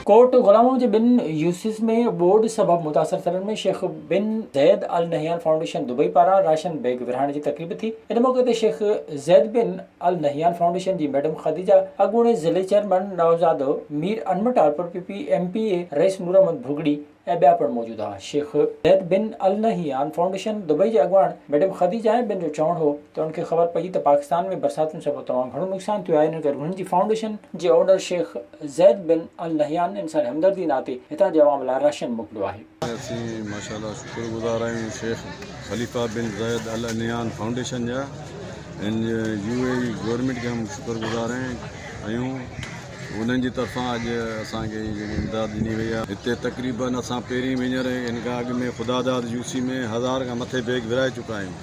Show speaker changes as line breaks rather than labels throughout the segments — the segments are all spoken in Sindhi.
ڪوٽ غلامو جي ٻن يوسز ۾ ٻوڏ سبب متاثر ٿيلن ۾ Sheikh bin Zayed Al Nahyan foundation Dubai پاران راشن بيگ ورهائڻ جي تقريب ٿي ان موقعي تي Sheikh Zayed bin Al Nahyan foundation جي ميڊم خديجه اڳوڻي ضلعي چيئرمن نوزادو مير انمٽالپور P P M P A رئيس نوراحمد ڀڳڙي ۽ ٻيا پڻ موجود ها. Sheikh Zayed bin Al Nahyan foundation Dubai جي اڳواڻ ميڊم خديجه بين جو چوڻ هو ته ان کي خبر پئي ته پاڪستان ۾ برساتن سبب تمام گهڻو نقصان ٿيو آهي ان ڪري هنن جي فائونڊيشن جي owner Sheikh Zayed bin Al Nahyan انساني همدردي ناتي هتان جي عوام لاء راشن موڪليو آهي. اسين ماشاء الله
شڪر گذار آهيون شيخ خليفه بن زيد النهيان فائونڊيشن جا ۽ يو اي اي گورنمينٽ جا هم شڪر گذار آهيون. انهن جي طرفان اڄ اسان کي هي جيڪي امداد ڏني وئي آهي هتي تقريبن اسان پهرين به هينئر هن کان اڳ ۾ خداداد يو سي ۾ هزار کان مٿي بيگ ورهائي چڪا آهيون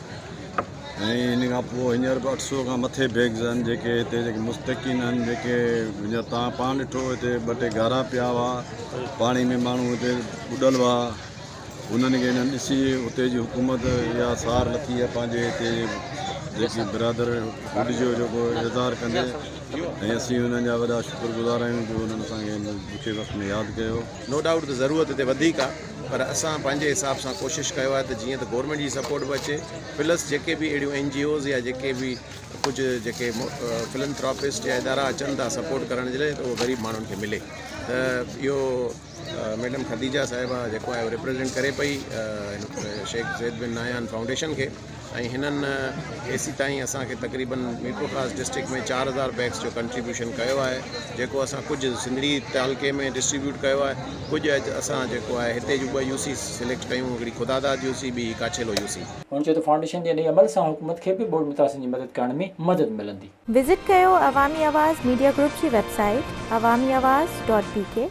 ۽ ان کان پوء هينئر به اٺ سؤ کان مٿي بيگز آهن جيڪي هتي جيڪي مستحقين آهن جيڪي هينئر تان پاڻ ڏٺو هتي ٻه ٽي گهارا پيا هئا پاڻي ۾ ماڻهو هتي ٻڏل هئا انهن کي انهن ڏسي اتي جي حڪومت اها سار لٿي ۽ پنهنجي هتي جيڪي برادر هوڏ جو جيڪو اظهار ڪندي ۽ اسين انهن جا وڏا شڪر گذار آهيون جو انهن اسان کي هن ڏکي وقت ۾ ياد ڪيو. نو ڊائوٽ ته ضرورت
هتي وڌيڪ آ پر اسان پنهنجي حساب سان ڪوشش ڪيو آهي ته جيئن ته گورنمينٽ جي سپورٽ به اچي پلس جيڪي به اهڙيون اين جي اوز يا جيڪي به ڪجهه جيڪي فلنٿراپسٽ يا ادارا اچن ٿا سپورٽ ڪرڻ جي لاء ته اهو غريب ماڻهن کي ملي ته اهو ميڊم خديجه صاحبه جيڪو آهي ريپريزينٽ ڪري پئي شيخ زيد بن نايان فائونڊيشن کي ۽ هنن ايسي تائين اسان کي تقريبن ميرپور خاص ڊسٽرڪٽ ۾ چار هزار بيگس جو ڪنٽريبيوشن ڪيو آهي جيڪو اسان ڪجهه سنڌڙي تعلقي ۾ ڊسٽريبيوٽ ڪيو آهي ڪجهه اسان جيڪو آهي هتي جون ٻه يو سي سليڪٽ ڪيون هڪڙي خداداد يو سي ٻي ڪاڇيلو يو سي هن چيو ته فائونڊيشن جي
انهي عمل سان حڪومت کي به ٻوڏ متاثرن جي مدد ڪرڻ ۾ مدد ملندي. وزٽ ڪيو
عوامي آواز ميڊيا گروپ جي web
site
Awami Awaz dot بي ڪي.